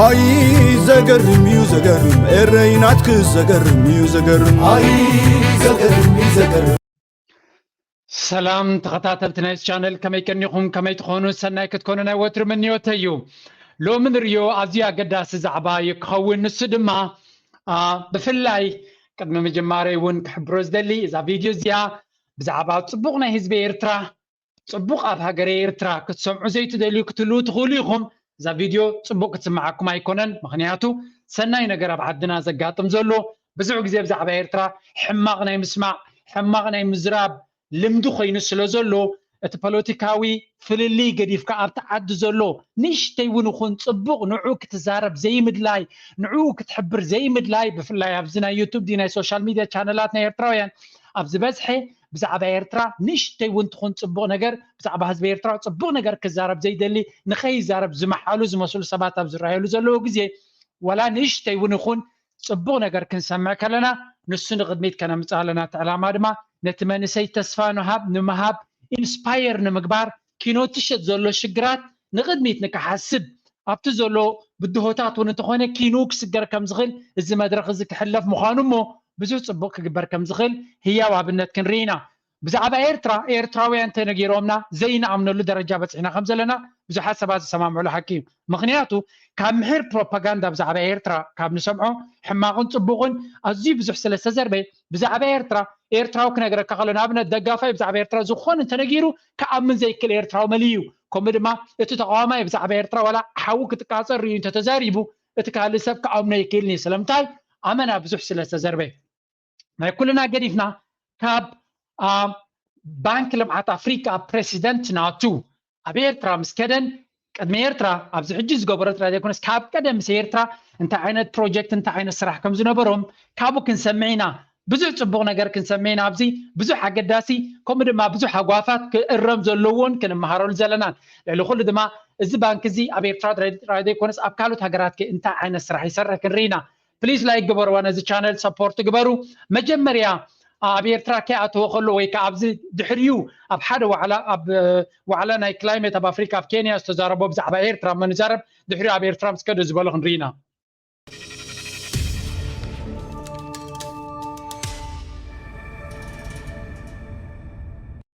ኣይ ዘገርም እዩ ዘገርም ኤረይ ናትክ ዘገርም እዩ ዘገርም ኣይ ዘገርም እዩ ዘገርም ሰላም ተኸታተልቲ ናይዚ ቻነል ከመይ ቀኒኹም ከመይ ትኾኑ ሰናይ ክትኮኑ ናይ ወትሪ ምንዮተ እዩ ሎሚ ንሪዮ ኣዝዩ ኣገዳሲ ዛዕባ እዩ ክኸውን ንሱ ድማ ብፍላይ ቅድሚ ምጅማረይ እውን ክሕብሮ ዝደሊ እዛ ቪድዮ እዚኣ ብዛዕባ ፅቡቕ ናይ ህዝቢ ኤርትራ ጽቡቕ ኣብ ሃገረ ኤርትራ ክትሰምዑ ዘይትደልዩ ክትህልዉ ትኽእሉ ኢኹም፣ እዛ ቪድዮ ጽቡቕ ክትስምዓኩም ኣይኮነን፣ ምኽንያቱ ሰናይ ነገር ኣብ ዓድና ዘጋጥም ዘሎ ብዙሕ ግዜ ብዛዕባ ኤርትራ ሕማቕ ናይ ምስማዕ ሕማቕ ናይ ምዝራብ ልምዲ ኮይኑ ስለ ዘሎ እቲ ፖለቲካዊ ፍልልይ ገዲፍካ ኣብቲ ዓዲ ዘሎ ንእሽተይ እውን ይኹን ጽቡቕ ንዑ ክትዛረብ ዘይምድላይ ንዑ ክትሕብር ዘይምድላይ ብፍላይ ኣብዚ ናይ ዩቱብ ናይ ሶሻል ሚድያ ቻነላት ናይ ኤርትራውያን ኣብ ዝበዝሐ ብዛዕባ ኤርትራ ንእሽተይ ውን ትኹን ጽቡቕ ነገር ብዛዕባ ህዝቢ ኤርትራ ጽቡቕ ነገር ክዛረብ ዘይደሊ ንኸይዛረብ ዝመሓሉ ዝመስሉ ሰባት ኣብ ዝረኣየሉ ዘለዎ ግዜ ዋላ ንእሽተይ ውን ይኹን ጽቡቕ ነገር ክንሰምዕ ከለና ንሱ ንቕድሚት ከነምጽእ ኣለና እቲ ዕላማ ድማ ነቲ መንእሰይ ተስፋ ንሃብ ንምሃብ ኢንስፓየር ንምግባር ኪኖትሸት ዘሎ ሽግራት ንቕድሚት ንክሓስብ ኣብቲ ዘሎ ብድሆታት እውን እንተኾነ ኪኑ ክስገር ከምዝኽል እዚ መድረኽ እዚ ክሕለፍ ምዃኑ እሞ ብዙሕ ጽቡቕ ክግበር ከምዝኽል ህያው ኣብነት ክንርኢ ኢና። ብዛዕባ ኤርትራ ኤርትራውያን ተነጊሮምና ዘይንኣምነሉ ደረጃ በጺሕና ከምዘለና ብዙሓት ሰባት ዝሰማምዕሉ ሓቂ እዩ። ምኽንያቱ ካብ ምሒር ፕሮፓጋንዳ ብዛዕባ ኤርትራ ካብ ንሰምዖ ሕማቕን ጽቡቕን ኣዝዩ ብዙሕ ስለዝተዘርበ ብዛዕባ ኤርትራ ኤርትራዊ ክነግረካ ከሎ ንኣብነት ደጋፋይ ብዛዕባ ኤርትራ ዝኾነ እንተነጊሩ ክኣምን ዘይክእል ኤርትራዊ መን እዩ? ከምኡ ድማ እቲ ተቓዋማይ ብዛዕባ ኤርትራ ዋላ ሓዊ ክትቃጸል ርእዩ እንተ ተዛሪቡ እቲ ካልእ ሰብ ክኣምኖ ኣይክእልን እዩ። ስለምንታይ? ኣመና ብዙሕ ስለ ዝተዘርበየ። ናይ ኩልና ገዲፍና ካብ ባንክ ልምዓት ኣፍሪቃ ፕረሲደንት ናቱ ኣብ ኤርትራ ምስ ከደን ቅድሚ ኤርትራ ኣብዚ ሕጂ ዝገበሮ ጥራይ ዘይኮነስ ካብ ቀደም ምስ ኤርትራ እንታይ ዓይነት ፕሮጀክት እንታይ ዓይነት ስራሕ ከም ዝነበሮም ካብኡ ክንሰምዕ ኢና ብዙሕ ጽቡቕ ነገር ክንሰምዕ ኢና ኣብዚ ብዙሕ ኣገዳሲ ከምኡ ድማ ብዙሕ ኣጓፋት ክእረም ዘለዎን ክንመሃረሉ ዘለናን ልዕሊ ኩሉ ድማ እዚ ባንኪ እዚ ኣብ ኤርትራ ጥራይ ዘይኮነስ ኣብ ካልኦት ሃገራት ከ እንታይ ዓይነት ስራሕ ይሰርሕ ክንርኢ ኢና ፕሊስ ላይክ ግበርዋ ነዚ ቻነል ሰፖርት ግበሩ መጀመርያ ኣብ ኤርትራ ከይኣተወ ከሎ ወይ ከዓ ኣብዚ ድሕሪኡ ኣብ ሓደ ዋዕላ ኣብ ዋዕላ ናይ ክላይሜት ኣብ ኣፍሪካ ኣብ ኬንያ ዝተዛረቦ ብዛዕባ ኤርትራ እሞ ንዛረብ ድሕሪኡ ኣብ ኤርትራ ምስ ከደ ዝበሎ ክንርኢ ኢና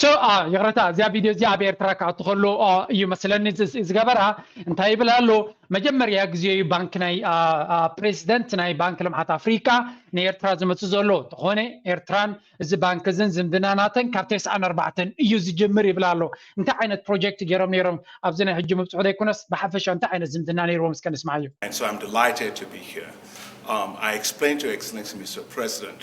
So a ይቕረታ እዚኣ ቪድዮ እዚኣ ኣብ ኤርትራ ክኣቱ ከሎ እዩ መስለኒ ዝገበራ እንታይ ይብል ኣሎ መጀመርያ ግዜ እዩ ባንኪ ናይ ፕሬዚደንት ናይ ባንኪ ልምዓት ኣፍሪካ ንኤርትራ ዝመፅእ ዘሎ እንተኾነ ኤርትራን እዚ ባንኪ እዝን ዝምድና ናተን ካብ ተስዓን ኣርባዕተን እዩ ዝጅምር ይብል ኣሎ እንታይ ዓይነት ፕሮጀክት ገይሮም ነይሮም ኣብዚ ናይ ሕጂ ምብፅሑ ዘይኮነስ ብሓፈሻ እንታይ ዓይነት ዝምድና ነይርዎም እስከ ንስማዕ እዩ And so I'm delighted to be here. Um, I explained to Excellency Mr. President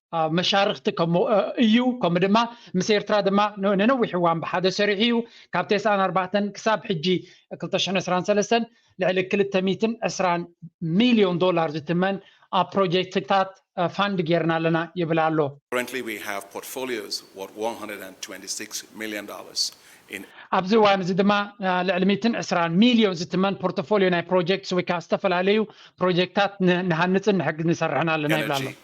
መሻርኽቲ እዩ ከምኡ ድማ ምስ ኤርትራ ድማ ንነዊሕ እዋን ብሓደ ሰሪሑ እዩ ካብ ቴስዓን ኣርባዕተን ክሳብ ሕጂ 223 ልዕሊ 220 ሚልዮን ዶላር ዝትመን ኣብ ፕሮጀክትታት ፋንድ ጌርና ኣለና ይብል ኣሎ Currently we have portfolios worth $126 million in ኣብዚ እዋን እዚ ድማ ልዕሊ 120 ሚልዮን ዝትመን ፖርቶፎልዮ ናይ ፕሮጀክትስ ወይ ከዓ ዝተፈላለዩ ፕሮጀክታት ንሃንፅን ንሕግ ንሰርሕን ኣለና ይብል ኣሎ energy,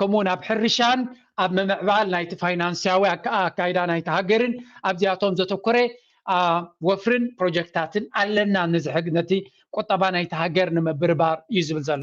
ከምኡ ውን ኣብ ሕርሻን ኣብ ምምዕባል ናይቲ ፋይናንስያዊ ኣካይዳ ናይቲ ሃገርን ኣብዚኣቶም ዘተኮረ ወፍርን ፕሮጀክትታትን ኣለና ንዝሕግ ነቲ ቁጠባ ናይቲ ሃገር ንምብርባር እዩ ዝብል ዘሎ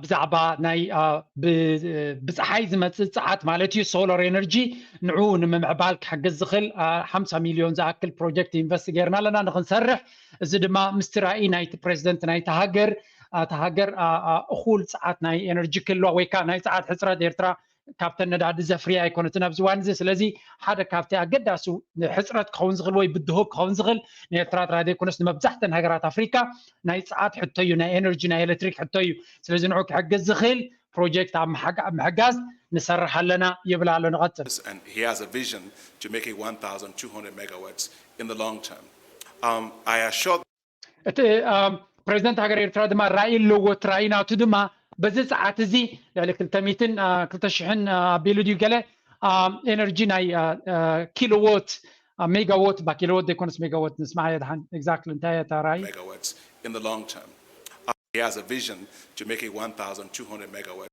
ብዛዕባ ናይ ብፀሓይ ዝመፅእ ፀዓት ማለት እዩ ሶላር ኤነርጂ ንዕኡ ንምምዕባል ክሕግዝ ዝኽእል ሓምሳ ሚልዮን ዝኣክል ፕሮጀክት ኢንቨስት ገይርና ኣለና ንክንሰርሕ እዚ ድማ ምስቲ ራእይ ናይቲ ፕሬዚደንት ናይቲ ሃገር እታ ሃገር እኹል ፀዓት ናይ ኤነርጂ ክህልዋ ወይ ከዓ ናይ ፀዓት ሕፅረት ኤርትራ ካብተን ነዳዲ ዘፍርያ ኣይኮነትን ኣብዚ እዋን እዚ ስለዚ ሓደ ካብቲ ኣገዳሲ ሕፅረት ክኸውን ዝኽእል ወይ ብድሆ ክኸውን ዝኽእል ንኤርትራ ጥራይ ዘይኮነስ ንመብዛሕተን ሃገራት ኣፍሪካ ናይ ፀዓት ሕቶ እዩ ናይ ኤነርጂ ናይ ኤሌክትሪክ ሕቶ እዩ ስለዚ ንዑ ክሕግዝ ዝኽእል ፕሮጀክት ኣብ ምሕጋዝ ንሰርሕ ኣለና ይብል ኣሎ ንቐፅል and he has a vision to make it 1,200 megawatts in the long term. Um, I assure እቲ ፕሬዚደንት ሃገር ኤርትራ ድማ ራኢ ኣለዎ እቲ ራኢ ናቱ ድማ በዚ ፀዓት እዚ ልዕሊ ክልተ ሚትን ክልተ ሽሕን ኣቢሉ ድዩ ገለ ኤነርጂ ናይ ኪሎዎት ሜጋዎት ባ ኪሎዎት ዘይኮነስ ሜጋዎት ንስማዕ የድሓን ኤግዛክትሊ እንታይ እየ እታ ራኢ megawatts in the long term. He has a vision to make it 1,200 megawatts.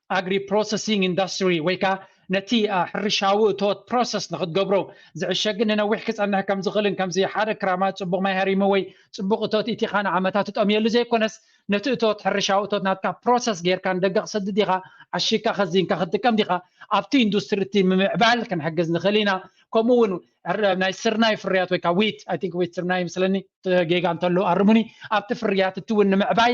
ኣግሪ ፕሮሰሲንግ ኢንዳስትሪ ወይ ከኣ ነቲ ሕርሻዊ እቶት ፕሮሰስ ንክትገብሮ ዝዕሸግን ንነዊሕ ክጸንሕ ከም ዝኽእልን ከምዚ ሓደ ክራማት ጽቡቕ ማይ ሃሪሙ ወይ ጽቡቕ እቶት ኢቲኻ ንዓመታት ትጠምየሉ ዘይኮነስ ነቲ እቶት ሕርሻዊ እቶት ናትካ ፕሮሰስ ጌርካ ንደገ ክሰድድ ዲኻ ዓሺግካ ከዚንካ ክትጥቀም ዲኻ ኣብቲ ኢንዱስትሪ እቲ ምምዕባል ክንሕግዝ ንኽእል ኢና ከምኡ እውን ናይ ስርናይ ፍርያት ወይ ከዓ ዊት ኣይ ቲንክ ዊት ስርናይ ምስለኒ ጌጋ እንተሎ ኣርሙኒ ኣብቲ ፍርያት እቲ እውን ንምዕባይ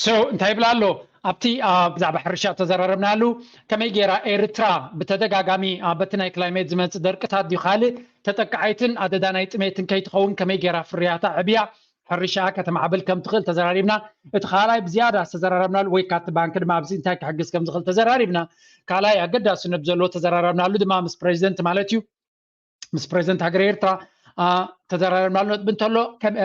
ሶ እንታይ ይብል ኣሎ ኣብቲ ብዛዕባ ሕርሻ ተዘራረብናሉ ከመይ ጌራ ኤርትራ ብተደጋጋሚ በቲ ናይ ክላይሜት ዝመፅእ ደርቅታት ድዩ ካልእ ተጠቃዓይትን ኣደዳ ናይ ጥሜትን ከይትኸውን ከመይ ጌራ ፍርያታ ዕብያ ሕርሻኣ ከተማዕብል ከም ትኽእል ተዘራሪብና እቲ ካልኣይ ብዝያዳ ዝተዘራረብናሉ ወይ ካብቲ ባንኪ ድማ ኣብዚ እንታይ ክሕግዝ ከም ዝኽእል ተዘራሪብና ካልኣይ ኣገዳስነት ዘለዎ ተዘራረብናሉ ድማ ምስ ፕሬዚደንት ማለት እዩ ምስ ፕሬዚደንት ሃገረ ኤርትራ ተዘራሪብናሉ ነጥቢ እንተሎ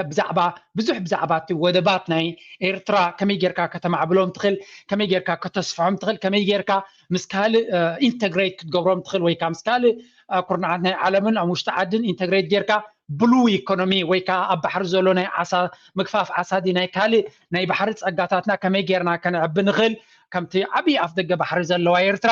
ብዛዕባ ብዙሕ ብዛዕባ እቲ ወደባት ናይ ኤርትራ ከመይ ጌርካ ከተማዕብሎም ትኽእል ከመይ ጌርካ ከተስፍሖም ትኽእል ከመይ ጌርካ ምስ ካልእ ኢንተግሬት ክትገብሮም ትኽእል ወይ ከዓ ምስ ካልእ ኩርናዓት ናይ ዓለምን ኣብ ውሽጢ ዓድን ኢንተግሬት ጌርካ ብሉ ኢኮኖሚ ወይ ከዓ ኣብ ባሕሪ ዘሎ ናይ ዓሳ ምግፋፍ ዓሳ ዲ ናይ ካልእ ናይ ባሕሪ ፀጋታትና ከመይ ጌርና ከነዕቢ ንኽእል ከምቲ ዓብዪ ኣፍ ደገ ባሕሪ ዘለዋ ኤርትራ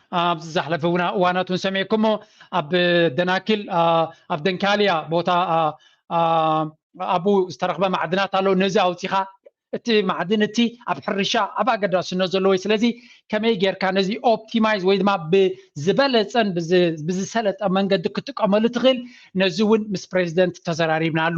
ኣብ ዝዛሕለፈ እዋናት እውን ሰሚዕኩሞ ኣብ ደናኪል ኣብ ደንካልያ ቦታ ኣብኡ ዝተረኽበ ማዕድናት ኣሎ ነዚ ኣውፂኻ እቲ ማዕድን እቲ ኣብ ሕርሻ ኣብ ኣገዳስነት ዘለዎ ስለዚ ከመይ ጌርካ ነዚ ኦፕቲማይዝ ወይ ድማ ብዝበለፀን ብዝሰለጠ መንገዲ ክጥቀመሉ ትኽእል ነዚ እውን ምስ ፕሬዚደንት ተዘራሪብናሉ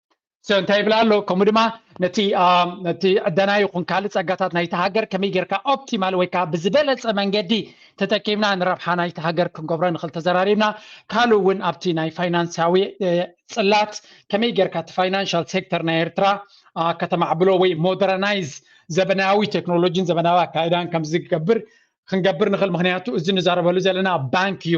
እንታይ ይብል ኣሎ ከምኡ ድማ ነቲ ነቲ ዕደና ይኹን ካልእ ጸጋታት ናይቲ ሃገር ከመይ ጌርካ ኦፕቲማል ወይ ከዓ ብዝበለፀ መንገዲ ተጠቂምና ንረብሓ ናይቲ ሃገር ክንገብሮ ንኽእል ተዘራሪብና ካልእ እውን ኣብቲ ናይ ፋይናንሳዊ ፅላት ከመይ ጌርካ እቲ ፋይናንሻል ሴክተር ናይ ኤርትራ ከተማዕብሎ ወይ ሞደረናይዝ ዘበናዊ ቴክኖሎጂን ዘበናዊ ኣካይዳን ከምዝገብር ክንገብር ንኽእል ምክንያቱ እዚ ንዛረበሉ ዘለና ባንክ እዩ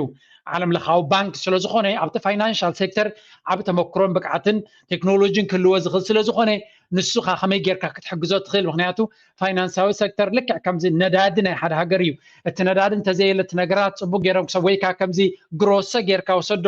ዓለም ለኻዊ ባንክ ስለዝኾነ ኣብቲ ፋይናንሻል ሴክተር ዓብ ተመክሮን ብቅዓትን ቴክኖሎጂን ክህልዎ ዝኽእል ስለዝኾነ ንሱኻ ከመይ ጌርካ ክትሕግዞ ትኽእል ምክንያቱ ፋይናንሳዊ ሴክተር ልክዕ ከምዚ ነዳዲ ናይ ሓደ ሃገር እዩ እቲ ነዳዲ እንተዘየለ እቲ ነገራት ፅቡቅ ገይሮም ክሰብ ወይካ ከምዚ ግሮሰ ጌርካ ወሰዶ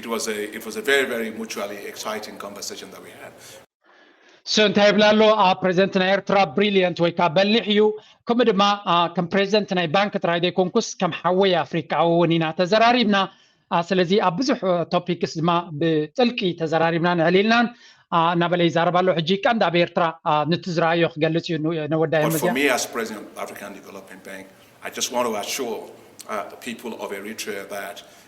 It was a it was a very very mutually exciting conversation that we had. እሱ እንታይ ይብል ኣሎ ፕሬዚደንት ናይ ኤርትራ ብሪልየንት ወይ ከዓ በሊሕ እዩ ከምኡ ድማ ከም ፕሬዚደንት ናይ ባንክ ጥራይ ዘይኮንኩስ ከም ሓወይ ኣፍሪካ እውን ኢና ተዘራሪብና ስለዚ ኣብ ብዙሕ ቶፒክስ ድማ ብጥልቂ ተዘራሪብናን ዕሊልናን እናበለ ይዛረብ ኣሎ ሕጂ ቀንዲ ኣብ ኤርትራ ንቲ ዝረኣዮ ክገልፅ እዩ ነወዳይ መዚያ I just want to assure uh, the people of Eritrea that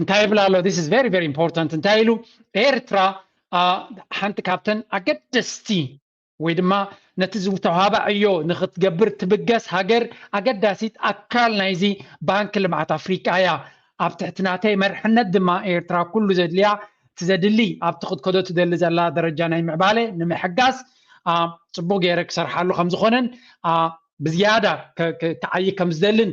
እንታይ ይብል ኣሎ ስ ቨሪ ቨሪ ኢምፖርታንት እንታይ ኢሉ ኤርትራ ሓንቲ ካብተን ኣገደስቲ ወይ ድማ ነቲ ዝተዋህባ ዕዮ ንክትገብር ትብገስ ሃገር ኣገዳሲት ኣካል ናይዚ ባንኪ ልምዓት ኣፍሪቃ እያ ኣብ ትሕቲ ናተይ መርሕነት ድማ ኤርትራ ኩሉ ዘድልያ እቲ ዘድሊ ኣብቲ ክትከዶ ትደሊ ዘላ ደረጃ ናይ ምዕባለ ንምሕጋዝ ፅቡቅ ገይረ ክሰርሓሉ ከምዝኮነን ብዝያዳ ክዓይ ከምዝደልን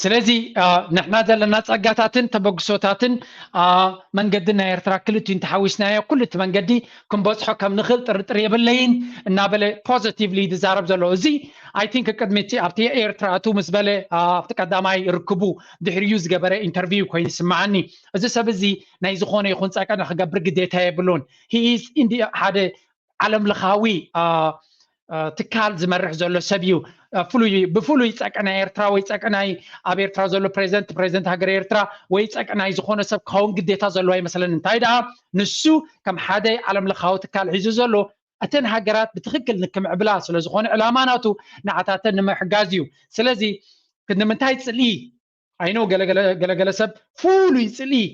ስለዚ ንሕና ዘለና ጸጋታትን ተበግሶታትን መንገዲ ናይ ኤርትራ ክልት እንተሓዊስናዮ ኩሉ እቲ መንገዲ ክንበጽሖ ከም ንኽእል ጥርጥር የብለይን እናበለ ፖዘቲቭሊ ዝዛረብ ዘሎ እዚ ኣይ ቲንክ ቅድሚ እቲ ኣብቲ ኤርትራ እቱ ምስ በለ ኣብቲ ቀዳማይ ርክቡ ድሕሪዩ ዝገበረ ኢንተርቪው ኮይኑ ይስምዓኒ እዚ ሰብ እዚ ናይ ዝኾነ ይኹን ጸቀነ ክገብር ግዴታ የብሉን ሂኢዝ ሓደ ዓለም ለኻዊ ትካል ዝመርሕ ዘሎ ሰብ እዩ ፍሉይ ብፍሉይ ፀቅናይ ኤርትራ ወይ ፀቅናይ ኣብ ኤርትራ ዘሎ ፕሬዚደንት ፕሬዚደንት ሃገር ኤርትራ ወይ ፀቅናይ ዝኾነ ሰብ ክኸውን ግዴታ ዘለዎ ኣይመስለኒ እንታይ ደኣ ንሱ ከም ሓደ ዓለም ለኻዊ ትካል ሒዙ ዘሎ እተን ሃገራት ብትክክል ንክምዕብላ ስለዝኾነ ዕላማ ናቱ ንዓታተን ንምሕጋዝ እዩ ስለዚ ንምንታይ ፅልኢ ኣይኖ ገለገለ ሰብ ፍሉይ ፅልኢ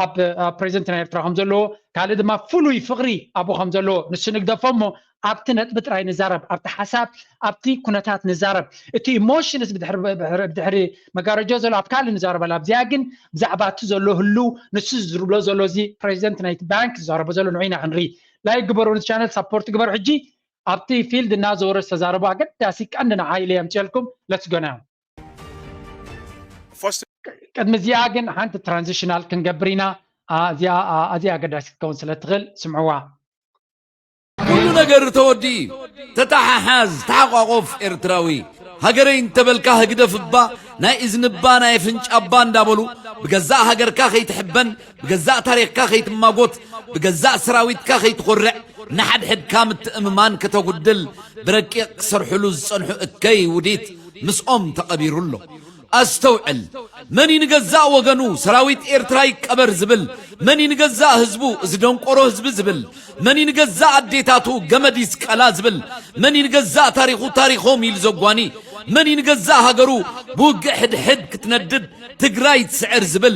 ኣብ ፕሬዚደንትና ኤርትራ ከም ዘለዎ ካልእ ድማ ፍሉይ ፍቕሪ ኣብኡ ከም ዘለዎ ንሱ ንግደፎ እሞ ኣብቲ ነጥቢ ጥራይ ንዛረብ ኣብቲ ሓሳብ ኣብቲ ኩነታት ንዛረብ እቲ ኢሞሽንስ ብድሕሪ መጋረጆ ዘሎ ኣብ ካልእ ንዛረበላ ኣብዚኣ ግን ብዛዕባ እቲ ዘሎ ህልው ንሱ ዝዝርብሎ ዘሎ እዚ ፕሬዚደንት ናይቲ ባንክ ዝዛረቦ ዘሎ ንዑ ኢና ክንርኢ ላይ ግበሩ ንቲ ቻነል ሳፖርት ግበሩ ሕጂ ኣብቲ ፊልድ እናዘወረ ዝተዛረቡ ኣገዳሲ ቀንዲ ንዓይለ የምፅልኩም ለትስ ጎናዮም ቅድሚ እዚኣ ግን ሓንቲ ትራንዚሽናል ክንገብር ኢና እዚኣ ኣዝያ ኣገዳሲ ክትከውን ስለ ትኽእል ስምዕዋ ኩሉ ነገር ተወዲ ተተሓሓዝ ተሓቋቆፍ ኤርትራዊ ሃገረይ እንተበልካ ህግደፍ እባ ናይ እዝኒ እባ ናይ ኣፍንጫ እባ እንዳበሉ ብገዛእ ሃገርካ ከይትሕበን ብገዛእ ታሪኽካ ከይትማጎት፣ ብገዛእ ሰራዊትካ ከይትኾርዕ፣ ንሓድሕድካ ምትእምማን ከተጉድል ብረቂቕ ክሰርሕሉ ዝጸንሑ እከይ ውዲት ምስኦም ተቐቢሩ ኣሎ። ኣስተውዕል መን እዩ ንገዛእ ወገኑ ሰራዊት ኤርትራ ይቀበር ዝብል መን እዩ ንገዛእ ህዝቡ እዚ ደንቆሮ ህዝቢ ዝብል መን እዩ ንገዛእ ኣዴታቱ ገመድ ይስቀላ ዝብል መን እዩ ንገዛእ ታሪኹ ታሪኾም ኢሉ ዘጓኒ መን እዩ ንገዛእ ሃገሩ ብውግእ ሕድሕድ ክትነድድ ትግራይ ትስዕር ዝብል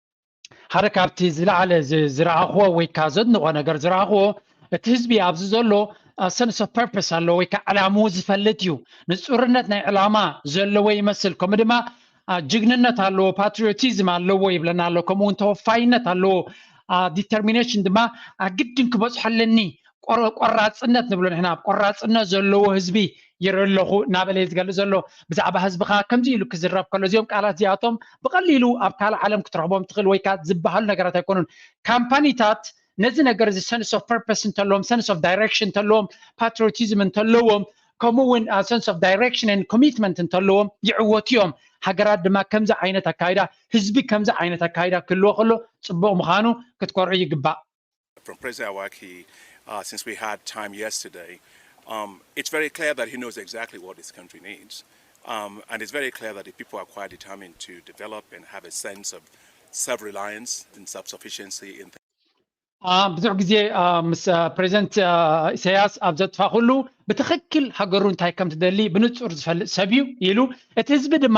ሓደ ካብቲ ዝለዓለ ዝረኣኽዎ ወይ ከዓ ዘድንቆ ነገር ዝረኣኽዎ እቲ ህዝቢ ኣብዚ ዘሎ ሰንስ ኦፍ ፐርፐስ ኣሎ ወይ ከዓ ዕላምኡ ዝፈልጥ እዩ ንፁርነት ናይ ዕላማ ዘለዎ ይመስል ከምኡ ድማ ጅግንነት ኣለዎ ፓትሪዮቲዝም ኣለዎ ይብለና ኣሎ ከምኡውን ተወፋይነት ኣለዎ ዲተርሚኔሽን ድማ ኣግድን ክበፅሖ ኣለኒ ቆራፅነት ንብሎ ንሕና ቆራፅነት ዘለዎ ህዝቢ ይርኢ ኣለኹ እናበለ እዩ ዝገልፅ ዘሎ ብዛዕባ ህዝብኻ ከምዚ ኢሉ ክዝረብ ከሎ እዚኦም ቃላት እዚኣቶም ብቐሊሉ ኣብ ካልእ ዓለም ክትረኽቦም ትኽእል ወይ ከዓ ዝበሃሉ ነገራት ኣይኮኑን ካምፓኒታት ነዚ ነገር እዚ ሰንስ ኦፍ ፐርፐስ እንተለዎም ሰንስ ኦፍ ዳይሬክሽን እንተለዎም ፓትሪዮቲዝም እንተለዎም ከምኡ እውን ሰንስ ኦፍ ዳይሬክሽን ን ኮሚትመንት እንተለዎም ይዕወቱ እዮም ሃገራት ድማ ከምዚ ዓይነት ኣካይዳ ህዝቢ ከምዚ ዓይነት ኣካይዳ ክህልዎ ከሎ ፅቡቕ ምዃኑ ክትኮርዑ ይግባእ ብዙሕ ግዜ ምስ ፕረዚደንት ኢሳያስ ኣብ ዘጥፋኹሉ ብትኽክል ሃገሩ እንታይ ከም ትደሊ ብንጹር ዝፈልጥ ሰብ እዩ ኢሉ። እቲ ህዝቢ ድማ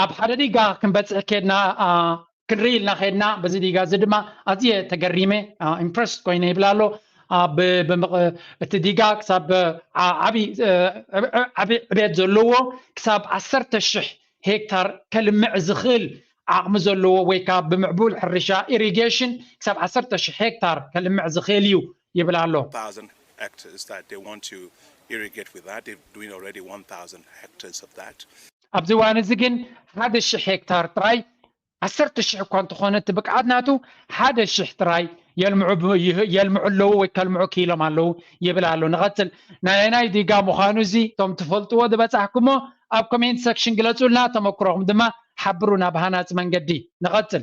ኣብ ሓደ ዲጋ ክንበፅሕ ከድና ክንርኢ ኢልና ከድና በዚ ዲጋ እዚ ድማ ኣዝየ ተገሪመ ኢምፕረስድ ኮይነ ይብል ኣሎ እቲ ዲጋ ክሳብ ዓብዪ ዕብየት ዘለዎ ክሳብ ዓሰርተ ሽሕ ሄክታር ከልምዕ ዝኽእል ዓቕሚ ዘለዎ ወይ ከዓ ብምዕቡል ሕርሻ ኢሪጌሽን ክሳብ ዓሰርተ ሽሕ ሄክታር ከልምዕ ዝኽእል እዩ ይብል ኣሎ። ኣብዚ እዋን'ዚ ግን ሓደ ሽሕ ሄክታር ጥራይ፣ ዓሰርተ ሽሕ እኳ እንተኾነ እቲ ብቅዓት ናቱ፣ ሓደ ሽሕ ጥራይ የልምዑ ኣለዉ ወይ ከልምዑ ክኢሎም ኣለዉ ይብል ኣሎ። ንቐጽል። ናይ ኣየናይ ዲጋ ምዃኑ እዚ እቶም ትፈልጥዎ ዝበጻሕኩሞ ኣብ ኮሜንት ሰክሽን ግለጹልና፣ ተመኩሮኹም ድማ ሓብሩና ብሃናጺ መንገዲ። ንቐጽል።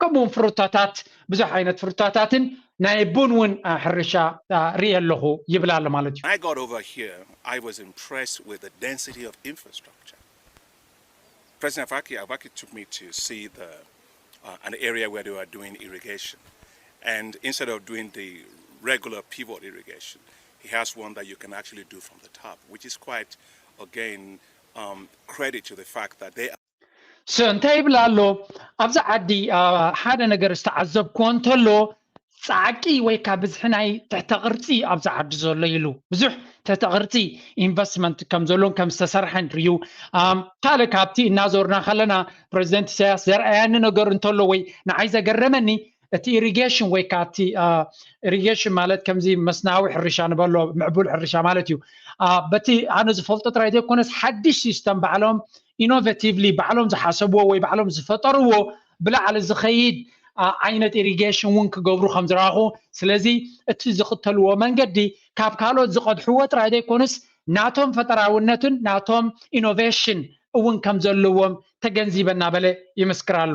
ከምኡ ውን ፍሩታታት ብዙሕ ዓይነት ፍሩታታትን ናይ ቡን ውን ሕርሻ ሪኢ ኣለኹ ይብል ኣሎ ማለት እዩ። እንታይ ይብል ኣሎ ኣብዚ ዓዲ ሓደ ነገር ዝተዓዘብኮ እንተሎ ፃዕቂ ወይ ካብ ብዝሒ ናይ ትሕተ ቅርፂ ኣብዚ ዓዲ ዘሎ ኢሉ ብዙሕ ትሕተ ቅርፂ ኢንቨስትመንት ከም ዘሎን ከም ዝተሰርሐን ርዩ ካልእ ካብቲ እናዞርና ከለና ፕረዚደንት ኢሳያስ ዘርኣያኒ ነገር እንተሎ ወይ ንዓይ ዘገረመኒ እቲ ኢሪጌሽን ወይ ከዓ እቲ ኢሪጌሽን ማለት ከምዚ መስናዊ ሕርሻ ንበሎ ምዕቡል ሕርሻ ማለት እዩ በቲ ኣነ ዝፈልጦ ጥራይ ዘይኮነስ ሓድሽ ሲስተም ባዕሎም ኢኖቨቲቭሊ ባዕሎም ዝሓሰብዎ ወይ ባዕሎም ዝፈጠርዎ ብላዕሊ ዝኸይድ ዓይነት ኢሪጌሽን እውን ክገብሩ ከም ዝረኣኹ ስለዚ እቲ ዝኽተልዎ መንገዲ ካብ ካልኦት ዝቐድሕዎ ጥራይ ዘይኮኑስ ናቶም ፈጠራውነትን ናቶም ኢኖቬሽን እውን ከም ዘለዎም ተገንዚበ እናበለ ይምስክር ኣሎ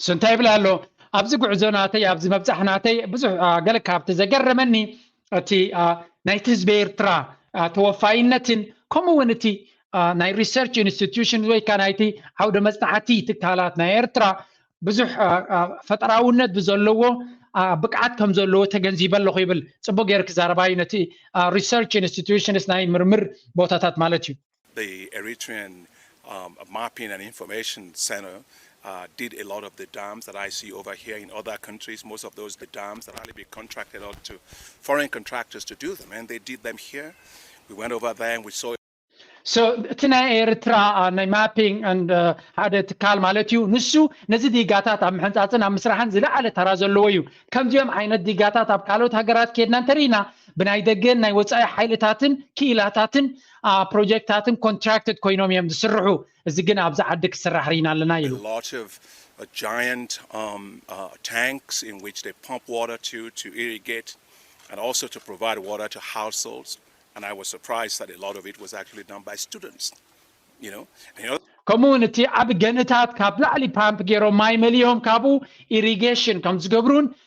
እሱ እንታይ ይብል ኣሎ ኣብዚ ጉዕዞ ናተይ ኣብዚ መብፃሕ ናተይ ብዙሕ ገለ ካብቲ ዘገረመኒ እቲ ናይቲ ህዝቢ ኤርትራ ተወፋይነትን ከምኡ እውን እቲ ናይ ሪሰርች ኢንስቲትዩሽን ወይ ከዓ ናይቲ ዓውደ መፅናዕቲ ትካላት ናይ ኤርትራ ብዙሕ ፈጠራውነት ብዘለዎ ብቅዓት ከም ዘለዎ ተገንዚበ ኣለኹ ይብል ፅቡቅ ገይር ክዛረባዩ ነቲ ሪሰርች ኢንስቲትዩሽንስ ናይ ምርምር ቦታታት ማለት እዩ እቲ ናይ ኤርትራ ናይ ማፒንግ ኣንድ ሓደ ትካል ማለት እዩ ንሱ ነዚ ዲጋታት ኣብ ምሕንጻጽን ኣብ ምስራሕን ዝለዓለ ተራ ዘለዎ እዩ ከምዚኦም ዓይነት ዲጋታት ኣብ ካልኦት ሃገራት ኬድና እንተርኢና ብናይ ደገን ናይ ወጻኢ ሓይልታትን ክኢላታትን ፕሮጀክታትን ኮንትራክትድ ኮይኖም እዮም ዝስርሑ፣ እዚ ግን ኣብዚ ዓዲ ክስራሕ ርኢና ኣለና ኢሉ። ከምኡ'ውን እቲ ዓቢ ገንእታት ካብ ላዕሊ ፓምፕ ገይሮም ማይ መሊኦም ካብኡ ኢሪጌሽን ከምዝገብሩን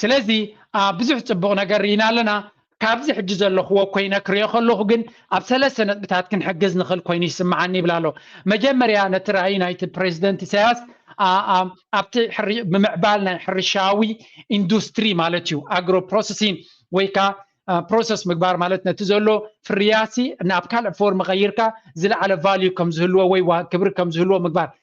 ስለዚ ኣብ ብዙሕ ጽቡቕ ነገር ርኢና ኣለና ካብዚ ሕጂ ዘለኽዎ ኮይነ ክሪኦ ከለኹ ግን ኣብ ሰለስተ ነጥብታት ክንሕግዝ ንኽእል ኮይኑ ይስምዓኒ ይብል ኣሎ መጀመርያ ነቲ ራእይ ናይቲ ፕሬዚደንት ኢሳያስ ኣብቲ ብምዕባል ናይ ሕርሻዊ ኢንዱስትሪ ማለት እዩ ኣግሮ ፕሮሰሲን ወይ ከዓ ፕሮሰስ ምግባር ማለት ነቲ ዘሎ ፍርያሲ ናብ ካልእ ፎርም ቀይርካ ዝለዓለ ቫልዩ ከም ዝህልዎ ወይ ክብሪ ከም ዝህልዎ ምግባር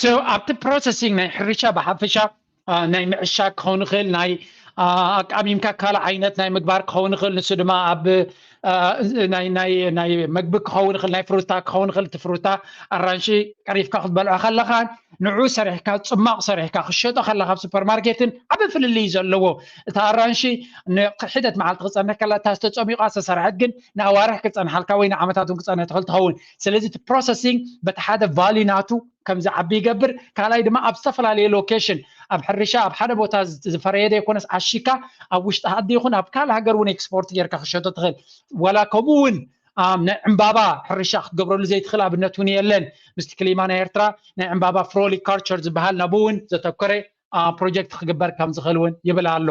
So ኣብቲ ፕሮሰሲንግ ናይ ሕርሻ ብሓፈሻ ናይ ምዕሻግ ክኸውን ይኽእል ናይ ኣቃሚምካ ካልእ ዓይነት ናይ ምግባር ክኸውን ይኽእል ንሱ ድማ ኣብ ናይ መግቢ ክኸውን ይኽእል ናይ ፍሩታ ክኸውን ይኽእል እቲ ፍሩታ ኣራንሺ ቀሪፍካ ክትበልዖ ከለካ ንዑ ሰሪሕካ ፅማቕ ሰሪሕካ ክሸጦ ከለካ ኣብ ሱፐርማርኬትን ዓበ ፍልልይ ዘለዎ እቲ ኣራንሺ ንሒደት መዓልቲ ክፀንሕ ከላ እታ ዝተፀሚቋ ዝተሰርሐት ግን ንኣዋርሕ ክፀንሓልካ ወይ ንዓመታት እውን ክፀንሕ ትኽእል ትኸውን ስለዚ እቲ ፕሮሰሲንግ በቲ ሓደ ቫሊ ናቱ ከም ዝዓቢ ይገብር ካልኣይ ድማ ኣብ ዝተፈላለየ ሎኬሽን ኣብ ሕርሻ ኣብ ሓደ ቦታ ዝፈረየ ዘይኮነስ ዓሺካ ኣብ ውሽጢ ሃዲ ይኹን ኣብ ካልእ ሃገር እውን ኤክስፖርት ጌርካ ክሸቶ ትኽእል ዋላ ከምኡ እውን ናይ ዕምባባ ሕርሻ ክትገብረሉ ዘይትኽእል ኣብነት እውን የለን ምስቲ ክሊማ ናይ ኤርትራ ናይ ዕምባባ ፍሮሊካርቸር ዝበሃል ናብኡ እውን ዘተኮረ ፕሮጀክት ክግበር ከም ዝኽእል እውን ይብል ኣሎ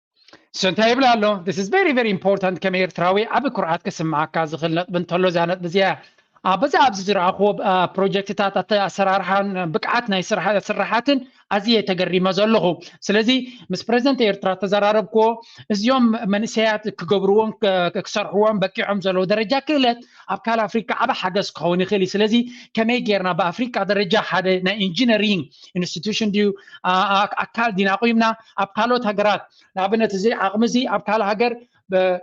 ንሱ እንታይ ይብል ኣሎ ስ ቨሪ ቨሪ ኢምፖርታንት ከም ኤርትራዊ ዓብ ኩርዓት ክስምዓካ ዝኽእል ነጥቢ እንተሎ እዛ ነጥቢ እዚኣ ኣብዚ ኣብዚ ዝረኣኽዎ ፕሮጀክትታት ኣሰራርሓን ብቅዓት ናይ ስራሓትን ኣዝየ ተገሪመ ዘለኹ ስለዚ ምስ ፕረዚደንት ኤርትራ ተዘራረብክዎ እዚኦም መንእሰያት ክገብርዎን ክሰርሕዎን በቂዖም ዘለዉ ደረጃ ክእለት ኣብ ካል ኣፍሪካ ዓበ ሓገዝ ክኸውን ይኽእል እዩ ስለዚ ከመይ ጌርና ብኣፍሪካ ደረጃ ሓደ ናይ ኢንጂነሪንግ ኢንስቲቱሽን ድዩ ኣካል ዲና ቁይምና ኣብ ካልኦት ሃገራት ንኣብነት እዚ ዓቕሚ እዚ ኣብ ካልእ ሃገር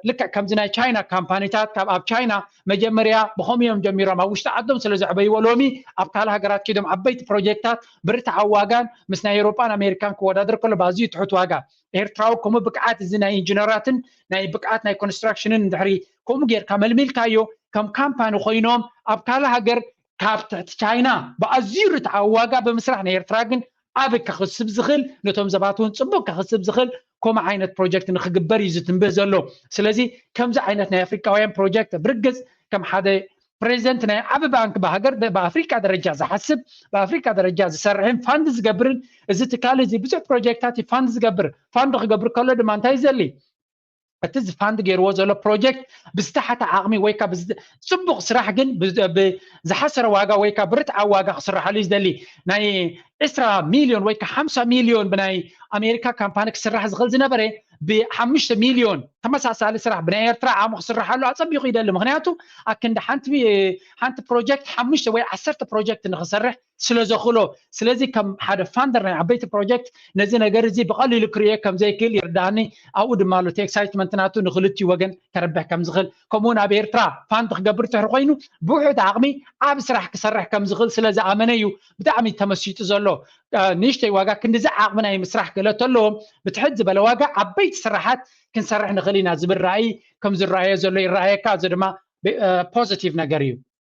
ልክዕ ከምዚ ናይ ቻይና ካምፓኒታት ካብ ኣብ ቻይና መጀመርያ ብከምኡ እዮም ጀሚሮም ኣብ ውሽጢ ዓዶም ስለ ዘዕበይዎ ሎሚ ኣብ ካልእ ሃገራት ኪዶም ዓበይቲ ፕሮጀክትታት ብርትዓዊ ዋጋን ምስ ናይ ኤሮጳን ኣሜሪካን ክወዳደር ከሎ ብኣዝዩ ትሑት ዋጋ ኤርትራዊ ከምኡ ብቅዓት እዚ ናይ ኢንጂነራትን ናይ ብቅዓት ናይ ኮንስትራክሽንን ድሕሪ ከምኡ ጌርካ መልሚልካዮ ከም ካምፓኒ ኮይኖም ኣብ ካልእ ሃገር ካብ ትሕቲ ቻይና ብኣዝዩ ርትዓዊ ዋጋ ብምስራሕ ንኤርትራ ግን ዓቢ ከኽስብ ዝኽእል ነቶም ዘባት እውን ጽቡቕ ከኽስብ ዝኽእል ከምኡ ዓይነት ፕሮጀክት ንክግበር እዩ ዝትንብህ ዘሎ ስለዚ ከምዚ ዓይነት ናይ ኣፍሪካውያን ፕሮጀክት ብርግጽ ከም ሓደ ፕሬዚደንት ናይ ዓቢ ባንክ ብሃገር ብኣፍሪካ ደረጃ ዝሓስብ ብኣፍሪካ ደረጃ ዝሰርሕን ፋንድ ዝገብርን እዚ ትካል እዚ ብዙሕ ፕሮጀክታት ፋንድ ዝገብር ፋንድ ክገብር ከሎ ድማ እንታይ ዘሊ እቲ ዝፋንድ ገይርዎ ዘሎ ፕሮጀክት ብዝተሓተ ዓቕሚ ወይ ካብ ፅቡቕ ስራሕ ግን ብዝሓሰረ ዋጋ ወይ ካብ ብርትዓ ዋጋ ክስራሓሉ እዩ ዝደሊ ናይ ዕስራ ሚልዮን ወይ ካብ ሓምሳ ሚልዮን ብናይ ኣሜሪካ ካምፓኒ ክስራሕ ዝኽእል ዝነበረ ብሓሙሽተ ሚልዮን ተመሳሳሊ ስራሕ ብናይ ኤርትራ ዓቕሚ ክስራሓሉ ኣፀቢቑ ይደሊ ምክንያቱ ኣክንዲ ሓንቲ ሓንቲ ፕሮጀክት ሓሙሽተ ወይ ዓሰርተ ፕሮጀክት ንክሰርሕ ስለ ዘኽእሎ ስለዚ ከም ሓደ ፋንደር ናይ ዓበይቲ ፕሮጀክት ነዚ ነገር እዚ ብቐሊሉ ክርእዮ ከም ዘይክእል ይርድኣኒ ኣብኡ ድማ ኣሎ እቲ ኤክሳይትመንት ናቱ ንኽልቲኡ ወገን ከረብሕ ከም ዝኽእል ከምኡ እውን ኣብ ኤርትራ ፋንድ ክገብር ትሕሪ ኮይኑ ብውሑድ ዓቕሚ ዓብ ስራሕ ክሰርሕ ከም ዝኽእል ስለ ዝኣመነ እዩ ብጣዕሚ ተመሲጡ ዘሎ ንእሽተይ ዋጋ ክንዲዚ ዓቕሚ ናይ ምስራሕ ክእለት ኣለዎም ብትሕት ዝበለ ዋጋ ዓበይቲ ስራሓት ክንሰርሕ ንኽእል ኢና ዝብል ራእይ ከም ዝረኣዮ ዘሎ ይረኣየካ እዚ ድማ ፖዚቲቭ ነገር እዩ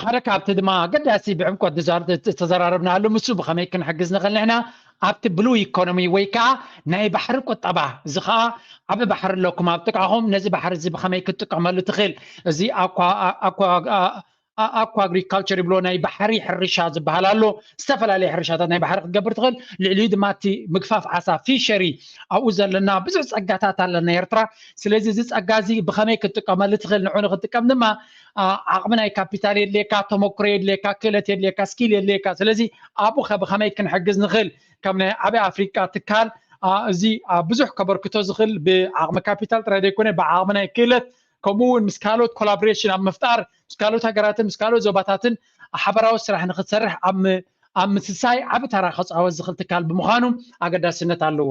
ሓደ ካብቲ ድማ ኣገዳሲ ብዕምቆት ዝተዘራረብናሉ ምስ ብከመይ ክንሕግዝ ንኽእል ንሕና ኣብቲ ብሉ ኢኮኖሚ ወይ ከዓ ናይ ባሕሪ ቁጠባ እዚ ከዓ ዓበ ባሕሪ ኣለኩም ኣብ ጥቃኹም ነዚ ባሕሪ እዚ ብከመይ ክትጥቀመሉ ትኽእል እዚ ኣኳ ኣግሪካልቸር ይብሎ ናይ ባሕሪ ሕርሻ ዝበሃል ኣሎ ዝተፈላለየ ሕርሻታት ናይ ባሕሪ ክትገብር ትኽእል ልዕሊኡ ድማ እቲ ምግፋፍ ዓሳ ፊሸሪ ኣብኡ ዘለና ብዙሕ ፀጋታት ኣለና ኤርትራ ስለዚ እዚ ፀጋ እዚ ብከመይ ክትጥቀመሉ ትኽእል ንዑ ንክትጥቀም ድማ ዓቕሚ ናይ ካፒታል የድልየካ ተመክሮ የድልየካ ክእለት የድልየካ ስኪል የድልየካ ስለዚ ኣብኡ ከ ብኸመይ ክንሕግዝ ንኽእል ከም ናይ ዓበይ ኣፍሪቃ ትካል እዚ ብዙሕ ከበርክቶ ዝኽእል ብዓቕሚ ካፒታል ጥራይ ዘይኮነ ብዓቕሚ ናይ ክእለት ከምኡ እውን ምስ ካልኦት ኮላቦሬሽን ኣብ ምፍጣር ምስ ካልኦት ሃገራትን ምስ ካልኦት ዞባታትን ሓበራዊ ስራሕ ንክትሰርሕ ኣብ ኣብ ምስሳይ ዓቢ ተራ ከፃወት ዝኽእል ትካል ብምዃኑ ኣገዳስነት ኣለዎ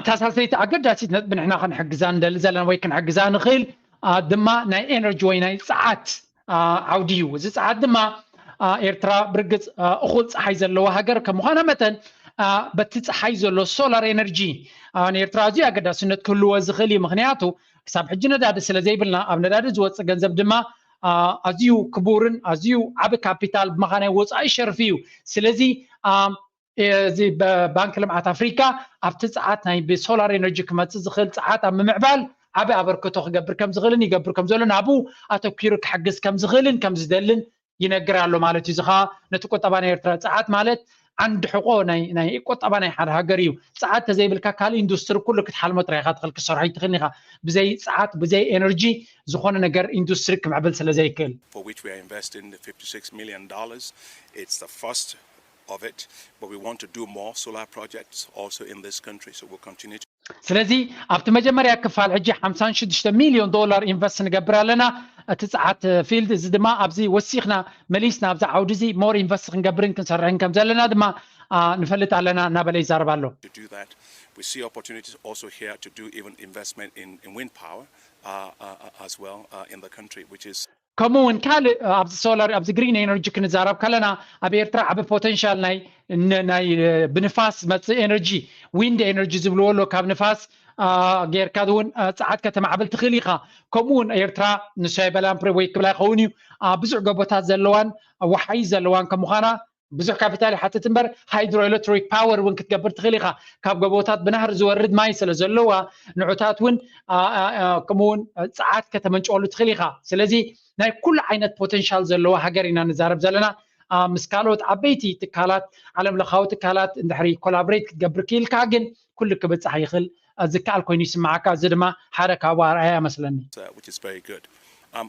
እታ ሳልሰይቲ ኣገዳሲት ነጥቢ ንሕና ክንሕግዛ ንደሊ ዘለና ወይ ክንሕግዛ ንኽእል ድማ ናይ ኤነርጂ ወይ ናይ ፀዓት ዓውዲ እዩ እዚ ፀዓት ድማ ኤርትራ ብርግፅ እኹል ፀሓይ ዘለዎ ሃገር ከም ምዃና መጠን በቲ ፀሓይ ዘሎ ሶላር ኤነርጂ ንኤርትራ ኣዝዩ ኣገዳስነት ክህልዎ ዝኽእል እዩ ምክንያቱ ክሳብ ሕጂ ነዳዲ ስለ ዘይብልና ኣብ ነዳዲ ዝወፅእ ገንዘብ ድማ ኣዝዩ ክቡርን ኣዝዩ ዓብ ካፒታል ብመኻናይ ወፃኢ ሸርፊ እዩ ስለዚ እዚ ባንኪ ልምዓት ኣፍሪካ ኣብቲ ፀዓት ናይ ብሶላር ኤነርጂ ክመፅእ ዝኽእል ፀዓት ኣብ ምምዕባል ዓብ ኣበርክቶ ክገብር ከም ዝኽእልን ይገብር ከም ዘሎን ኣብኡ ኣተኪሩ ክሕግዝ ከም ዝኽእልን ከም ዝደልን ይነግር ኣሎ ማለት እዩ እዚ ከዓ ነቲ ቁጠባ ናይ ኤርትራ ፀዓት ማለት ዓንዲ ሕቆ ናይ ቁጠባ ናይ ሓደ ሃገር እዩ ፀዓት ተዘይብልካ ካልእ ኢንዱስትሪ ኩሉ ክትሓልሞ ጥራይ ኢኻ ትኽእል ክትሰርሖ ኣይትኽእልን ኢኻ ብዘይ ፀዓት ብዘይ ኤነርጂ ዝኾነ ነገር ኢንዱስትሪ ክምዕብል ስለ ዘይክእል ስለዚ ኣብቲ መጀመርያ ክፋል ሕጂ ሓምሳን ሽዱሽተ ሚልዮን ዶላር ኢንቨስት ንገብር ኣለና እቲ ጸዓት ፊልድ እዚ ድማ ኣብዚ ወሲኽና መሊስና ኣብዚ ዓውዲ እዚ ሞር ኢንቨስት ክንገብርን ክንሰርሕን ከም ዘለና ድማ ንፈልጥ ኣለና እናበለ ይዛረብ ኣሎ። ከምኡ ውን ካልእ ኣብዚ ሶላር ኣብዚ ግሪን ኤነርጂ ክንዛረብ ከለና ኣብ ኤርትራ ዓቢ ፖተንሻል ናይ ናይ ብንፋስ ዝመጽእ ኤነርጂ ዊንድ ኤነርጂ ዝብልዎ ኣሎ ካብ ንፋስ ጌርካ እውን ፀዓት ከተማዕብል ትኽእል ኢኻ ከምኡ ውን ኤርትራ ንሶ ኣይበላን ፕሬቦይ ክብላ ይኸውን እዩ ብዙሕ ገቦታት ዘለዋን ወሓይ ዘለዋን ከም ምዃና ብዙሕ ካፒታል ይሓትት እምበር ሃይድሮ ኤሌክትሪክ ፓወር እውን ክትገብር ትኽእል ኢኻ ካብ ጎቦታት ብናህሪ ዝወርድ ማይ ስለ ዘለዋ ንዑታት እውን ከምኡውን ፀዓት ከተመንጨወሉ ትኽእል ኢኻ ስለዚ ናይ ኩሉ ዓይነት ፖቴንሻል ዘለዎ ሃገር ኢና ንዛረብ ዘለና ምስ ካልኦት ዓበይቲ ትካላት ዓለም ለኻዊ ትካላት እንድሕሪ ኮላብሬት ክትገብር ክኢልካ ግን ኩሉ ክብፃሕ ይኽእል ዝከኣል ኮይኑ ይስምዓካ እዚ ድማ ሓደ ካብኡ ኣርኣያ መስለኒ um,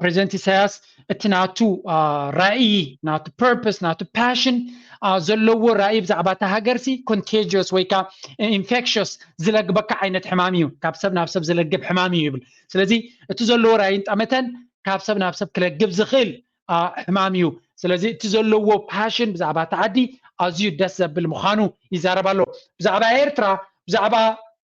ፕሬዚደንት ኢሳያስ እቲ ናቱ ራእዪ ናቱ ፐርፐስ ናቱ ፓሽን ዘለዎ ራእዪ ብዛዕባ እታ ሃገርሲ ኮንቴጅስ ወይ ከዓ ኢንፌክሽስ ዝለግበካ ዓይነት ሕማም እዩ ካብ ሰብ ናብ ሰብ ዝለግብ ሕማም እዩ ይብል ስለዚ እቲ ዘለዎ ራእይን ጠመተን ካብ ሰብ ናብ ሰብ ክለግብ ዝኽእል ሕማም እዩ ስለዚ እቲ ዘለዎ ፓሽን ብዛዕባ እቲ ዓዲ ኣዝዩ ደስ ዘብል ምዃኑ ይዛረብ ኣሎ ብዛዕባ ኤርትራ ብዛዕባ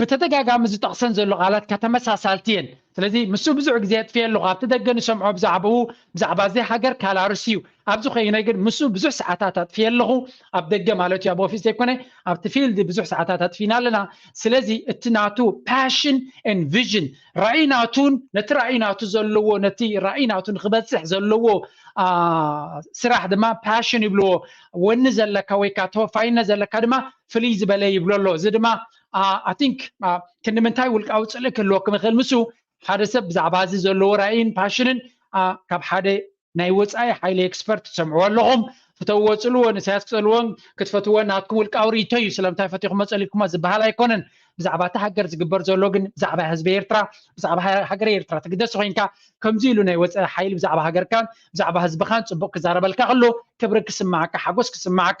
ብተደጋጋሚ ዝጠቕሰን ዘሎ ቃላትካ ተመሳሳልቲ እየን ስለዚ ምስኡ ብዙሕ ግዜ የጥፍየ ኣለኹ ኣብቲ ደገ ንሰምዖ ብዛዕባኡ ብዛዕባ እዚ ሃገር ካላርስ እዩ ኣብዚ ኮይነ ግን ምስኡ ብዙሕ ሰዓታት ኣጥፍየ ኣለኹ ኣብ ደገ ማለት እዩ ኣብ ኦፊስ ዘይኮነ ኣብቲ ፊልድ ብዙሕ ሰዓታት ኣጥፊና ኣለና ስለዚ እቲ ናቱ ፓሽን ን ቪዥን ራእይ ናቱን ነቲ ራእይ ናቱ ዘለዎ ነቲ ራእይ ናቱ ንክበፅሕ ዘለዎ ስራሕ ድማ ፓሽን ይብልዎ ወኒ ዘለካ ወይካ ተወፋይነት ዘለካ ድማ ፍልይ ዝበለ ይብሎ ኣሎ እዚ ድማ ኣቲንክ ክንምንታይ ውልቃዊ ፅልኢ ክህልወኩም ይኽእል ምስ ሓደ ሰብ ብዛዕባ እዚ ዘለዎ ራእይን ፓሽንን ካብ ሓደ ናይ ወፃኢ ሓይሊ ኤክስፐርት ትሰምዕዎ ኣለኹም ፍተውዎ ፅልዎ ንሳያስ ክፀልዎን ክትፈትዎን ናትኩም ውልቃዊ ርእቶ እዩ ስለምንታይ ፈቲኹሞ ፀሊኩሞ ዝበሃል ኣይኮነን ብዛዕባ እቲ ሃገር ዝግበር ዘሎ ግን ብዛዕባ ህዝቢ ኤርትራ ብዛዕባ ሃገር ኤርትራ ትግደስ ኮንካ ከምዚ ኢሉ ናይ ወፃኢ ሓይሊ ብዛዕባ ሃገርካን ብዛዕባ ህዝብኻን ፅቡቅ ክዛረበልካ ከሎ ክብሪ ክስማዓካ ሓጎስ ክስማዓካ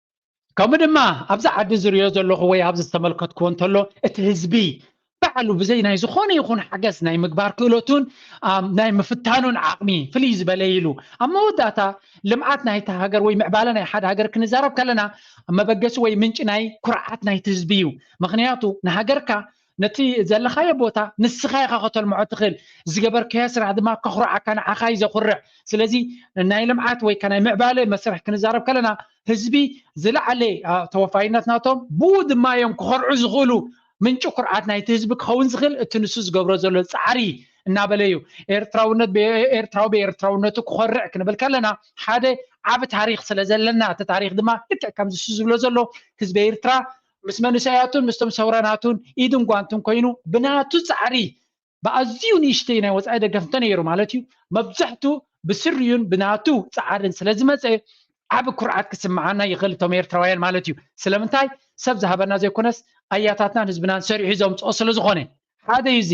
ከምኡ ድማ ኣብዚ ዓዲ ዝሪኦ ዘለኹ ወይ ኣብዚ ዝተመልከትኩዎ እንተሎ እቲ ህዝቢ ባዕሉ ብዘይ ናይ ዝኾነ ይኹን ሓገዝ ናይ ምግባር ክእለቱን ናይ ምፍታኑን ዓቕሚ ፍልይ ዝበለ ኢሉ ኣብ መወዳእታ ልምዓት ናይቲ ሃገር ወይ ምዕባለ ናይ ሓደ ሃገር ክንዛረብ ከለና መበገሲ ወይ ምንጪ ናይ ኩርዓት ናይቲ ህዝቢ እዩ ምክንያቱ ንሃገርካ ነቲ ዘለኻዮ ቦታ ንስኻ ኢኻ ከተልምዖ ትኽእል ዝገበርካዮ ስራሕ ድማ ከኹርዓካ ንዓኻ እዩ ዘኹርዕ ስለዚ ናይ ልምዓት ወይ ናይ ምዕባለ መስርሕ ክንዛረብ ከለና ህዝቢ ዝለዓለ ተወፋይነት ናቶም ብኡ ድማ እዮም ክኸርዑ ዝኽእሉ ምንጪ ኩርዓት ናይቲ ህዝቢ ክኸውን ዝኽእል እቲ ንሱ ዝገብሮ ዘሎ ፃዕሪ እናበለ እዩ ኤርትራውነት ኤርትራዊ ብኤርትራውነቱ ክኾርዕ ክንብል ከለና ሓደ ዓብ ታሪክ ስለ ዘለና እቲ ታሪክ ድማ ልክዕ ከምዚ ዝብሎ ዘሎ ህዝቢ ኤርትራ ምስ መንእሰያቱን ምስቶም ሰውራናቱን ኢድን ጓንትን ኮይኑ ብናቱ ጻዕሪ ብኣዝዩ ንእሽተይ ናይ ወጻኢ ደገፍ እንተነይሩ ማለት እዩ መብዛሕቱ ብስሪኡን ብናቱ ጻዕርን ስለ ዝመጸ ዓቢ ኩርዓት ክስምዓና ይኽእል እቶም ኤርትራውያን ማለት እዩ ስለምንታይ ሰብ ዝሃበና ዘይኮነስ ኣያታትናን ህዝብናን ሰሪሑ ዘምጽኦ ስለ ዝኾነ ሓደ እዩ እዚ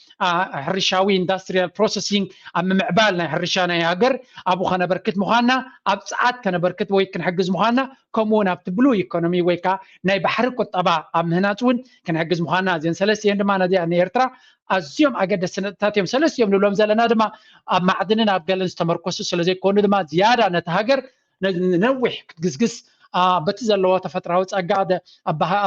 ሕርሻዊ ኢንዳስትሪያል ፕሮሰሲንግ ኣብ ምምዕባል ናይ ሕርሻ ናይ ሃገር ኣብኡ ከነበርክት ምዃንና ኣብ ጸዓት ከነበርክት ወይ ክንሕግዝ ምዃንና ከምኡ እውን ኣብቲ ብሉ ኢኮኖሚ ወይ ከዓ ናይ ባሕሪ ቁጠባ ኣብ ምህናፅ እውን ክንሕግዝ ምዃንና እዚን ሰለስተ እየን ድማ ነዚኣ ንኤርትራ ኣዝዮም ኣገደስቲ ነጥብታት እዮም ሰለስቲኦም ንብሎም ዘለና ድማ ኣብ ማዕድንን ኣብ ገለን ዝተመርኮሱ ስለዘይኮኑ ድማ ዝያዳ ነቲ ሃገር ንነዊሕ ክትግስግስ በቲ ዘለዋ ተፈጥራዊ ፀጋ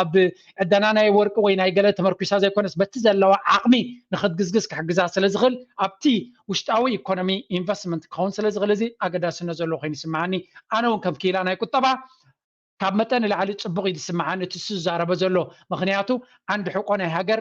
ኣብ ዕደና ናይ ወርቂ ወይ ናይ ገለ ተመርኪሳ ዘይኮነስ በቲ ዘለዋ ዓቕሚ ንክትግዝግዝ ክሕግዛ ስለ ዝኽእል ኣብቲ ውሽጣዊ ኢኮኖሚ ኢንቨስትመንት ክኸውን ስለ ዝኽእል እዚ ኣገዳስነት ዘለዎ ኮይኑ ይስምዓኒ ኣነ እውን ከም ክኢላ ናይ ቁጠባ ካብ መጠን ንላዕሊ ፅቡቕ እዩ ዝስምዓኒ እቲ ዝዛረበ ዘሎ ምክንያቱ ዓንዲ ሕቆ ናይ ሃገር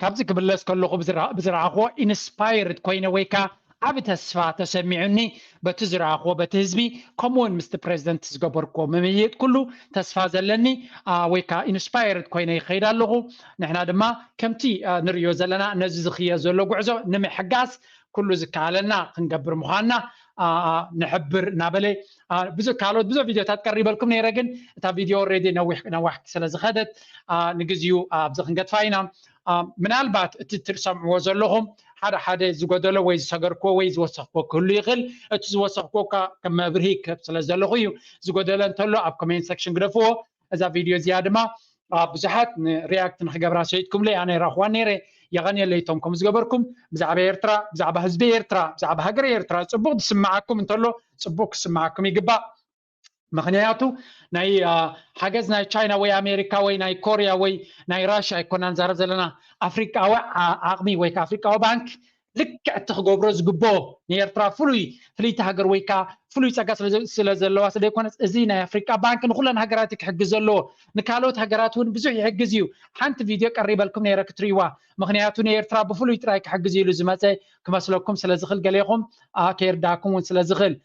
ካብዚ ክምለስ ከለኹ ብዝረኣኽዎ ኢንስፓየርድ ኮይነ ወይ ከኣ ዓቢ ተስፋ ተሰሚዑኒ በቲ ዝረኣኽዎ በቲ ህዝቢ ከምኡውን ምስቲ ፕረዚደንት ዝገበርክዎ ምምይጥ ኩሉ ተስፋ ዘለኒ ወይ ከኣ ኢንስፓየርድ ኮይነ ይኸይድ ኣለኹ ንሕና ድማ ከምቲ ንርእዮ ዘለና ነዚ ዝኽየድ ዘሎ ጉዕዞ ንምሕጋዝ ኩሉ ዝከኣለና ክንገብር ምዃንና ንሕብር እናበለ ብዙ ካልኦት ብዙ ቪድዮታት ቀሪበልኩም ነይረ ግን እታ ቪድዮ ኦልሬዲ ነዊሕ ነዋሕቲ ስለ ዝኸደት ንግዚኡ ኣብዚ ክንገድፋ ኢና ምናልባት እቲ ትሰምዕዎ ዘለኹም ሓደ ሓደ ዝጎደሎ ወይ ዝሰገርክዎ ወይ ዝወሰኽክዎ ክህሉ ይኽእል እቲ ዝወሰኽክዎ እኳ ከም መብርሂ ክህብ ስለ ዘለኹ እዩ ዝጎደለ እንተሎ ኣብ ኮሜንት ሰክሽን ግደፍዎ እዛ ቪድዮ እዚኣ ድማ ብዙሓት ንሪያክት ንክገብራ ሰይትኩምለይ ኣነ ራኽዋ ነይረ የቐንየለይ እቶም ከም ዝገበርኩም ብዛዕባ ኤርትራ ብዛዕባ ህዝቢ ኤርትራ ብዛዕባ ሃገረ ኤርትራ ፅቡቕ ዝስምዓኩም እንተሎ ፅቡቕ ክስምዓኩም ይግባእ ምክንያቱ ናይ ሓገዝ ናይ ቻይና ወይ ኣሜሪካ ወይ ናይ ኮርያ ወይ ናይ ራሽያ ኣይኮና ንዛረብ ዘለና ኣፍሪቃዊ ዓቕሚ ወይ ከዓ ኣፍሪቃዊ ባንክ ልክዕ እቲ ክገብሮ ዝግብኦ ንኤርትራ ፍሉይ ፍልይቲ ሃገር ወይ ከዓ ፍሉይ ፀጋ ስለ ዘለዋ ስለ ዘይኮነስ እዚ ናይ ኣፍሪቃ ባንክ ንኩለን ሃገራት ክሕግዝ ዘለዎ ንካልኦት ሃገራት እውን ብዙሕ ይሕግዝ እዩ ሓንቲ ቪድዮ ቀሪበልኩም ነይረ ክትርእይዋ ምክንያቱ ንኤርትራ ብፍሉይ ጥራይ ክሕግዝ ኢሉ ዝመፀ ክመስለኩም ስለ ዝኽእል ገሌኹም ከይርዳእኩም እውን ስለ ዝኽእል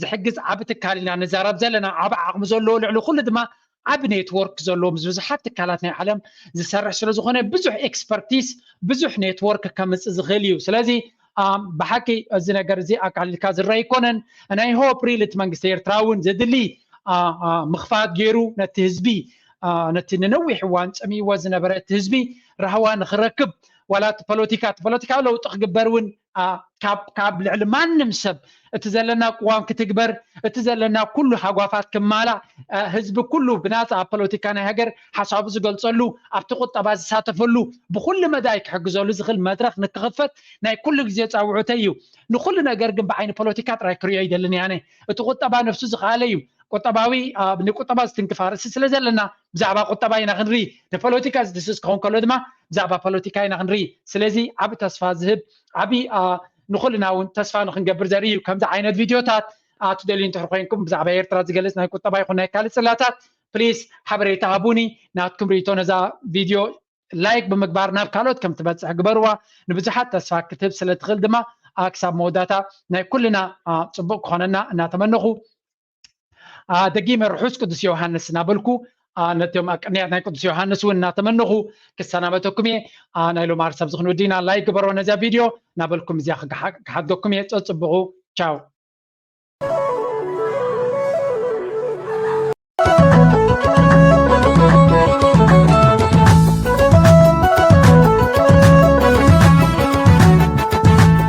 ዝሕግዝ ዓቢ ትካል ኢና ንዛረብ ዘለና። ዓቢ ዓቕሚ ዘለዎ ልዕሊ ኩሉ ድማ ዓቢ ኔትዎርክ ዘለዎ ምስ ብዙሓት ትካላት ናይ ዓለም ዝሰርሕ ስለ ዝኾነ ብዙሕ ኤክስፐርቲስ ብዙሕ ኔትዎርክ ከምጽእ ዝኽእል እዩ። ስለዚ ብሓቂ እዚ ነገር እዚ ኣቃሊልካ ዝረአ ኣይኮነን። ናይ ሆፕ ሪል እቲ መንግስቲ ኤርትራ እውን ዘድሊ ምኽፋት ገይሩ ነቲ ህዝቢ ነቲ ንነዊሕ እዋን ጸሚእዎ ዝነበረ እቲ ህዝቢ ራህዋ ንኽረክብ ዋላ እቲ ፖለቲካ እቲ ፖለቲካዊ ለውጢ ክግበር እውን ካብ ልዕሊ ማንም ሰብ እቲ ዘለና ቅዋም ክትግበር እቲ ዘለና ኩሉ ሃጓፋት ክማላእ ህዝቢ ኩሉ ብናፃ ኣብ ፖለቲካ ናይ ሃገር ሓሳቡ ዝገልፀሉ ኣብቲ ቁጠባ ዝሳተፈሉ ብኩሉ መዳይ ክሕግዘሉ ዝኽእል መድረኽ ንክኽፈት ናይ ኩሉ ግዜ ፃውዑተይ እዩ ንኩሉ ነገር ግን ብዓይኒ ፖለቲካ ጥራይ ክሪኦ ኣይደልን ኣነ እቲ ቁጠባ ነፍሱ ዝኸኣለ እዩ ቁጠባዊ ንቁጠባ ዝትንክፍ ኣርእስቲ ስለ ዘለና ብዛዕባ ቁጠባ ኢና ክንርኢ the ፖለቲካ ዝድስስ ክኸውን ከሎ ድማ ብዛዕባ ፖለቲካ ኢና ክንርኢ ስለዚ ዓብ ተስፋ ዝህብ ዓብይ ንኹልና እውን ተስፋ ንክንገብር ዘርኢ እዩ ከምዚ ዓይነት ቪድዮታት ትደልዩ እንተሕር ኮንኩም ብዛዕባ ኤርትራ ዝገልጽ ናይ ቁጠባ ይኹን ናይ ካልእ ጽላታት ፕሊስ ሓበሬታ ሃቡኒ ናትኩም ርእቶ ነዛ ቪድዮ ላይክ ብምግባር ናብ ካልኦት ከም ትበጽሕ ግበርዋ ንብዙሓት ተስፋ ክትህብ ስለ ትኽእል ድማ ክሳብ መወዳእታ ናይ ኩልና ጽቡቕ ክኾነና እናተመነኹ ደጊመ ርሑስ ቅዱስ ዮሃንስ እናበልኩ ነቶም ኣብ ቅንያት ናይ ቅዱስ ዮሃንስ እውን እናተመነኹ ክሰናበተኩም እየ ናይ ሎም ዓርሳብ ዝኽን ወዲና ላይ ግበሮ ነዚያ ቪድዮ እናበልኩም እዚያ ክሓድገኩም እየ ፀፅብቑ ቻው